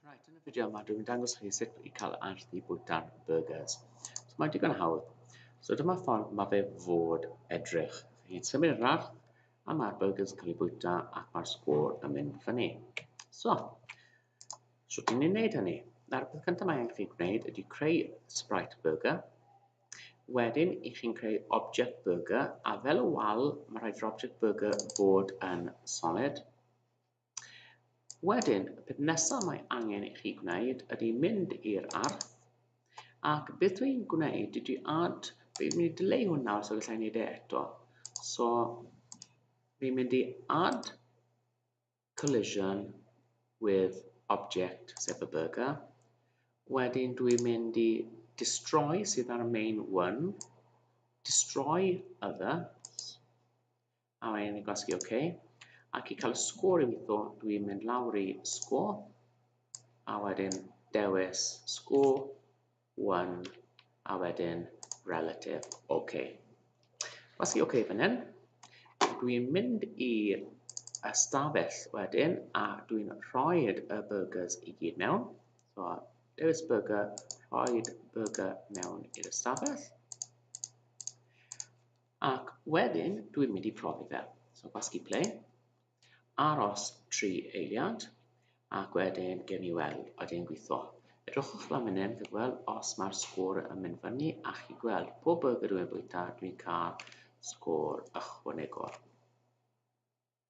Right, yn y fideo yma dwi'n dangos chi sut i cael arth i bwyta'r burgers. So mae'n digon hawdd. So dyma ffordd mae fe fod edrych. Chi'n symud yr arth a mae'r burgers yn cael ei bwyta ac mae'r sgôr yn mynd fyny. So, so ti'n ei wneud hynny? Na'r peth cyntaf mae angen chi gwneud ydy creu Sprite Burger. Wedyn, i chi'n creu Object Burger, a fel y wal, mae rhaid i'r Object Burger fod yn solid. Wedyn, y peth nesaf mae angen i chi gwneud ydy mynd i'r ardd, ac beth dwi'n gwneud ydy add, fi'n mynd i dyleu hwn nawr so gallai wneud e eto. So, fi'n mynd i add collision with object, sef y burger. Wedyn dwi'n mynd i destroy sydd ar y main one, destroy other, A rhaid i gwasgu OK. Ac i cael y sgôr i weithio, dwi'n mynd lawr i sgôr. A wedyn dewis sgôr 1 a wedyn relative OK. Gwasgu OK fan hyn. Dwi'n mynd i ystafell wedyn a dwi'n rhoi y burgers i gyd mewn. So, dewis burger, rhoi burger mewn i'r ystafell. Ac wedyn dwi'n mynd i profi fe. So gwasgu ple, aros tri eiliad, ac wedyn gen i weld a dyn gweithio. Edrychwch lan fan hyn, chi'n gweld os mae'r sgôr yn mynd fyny, a chi'n gweld pob burger dwi'n bwyta, dwi'n cael sgôr ychwanegol.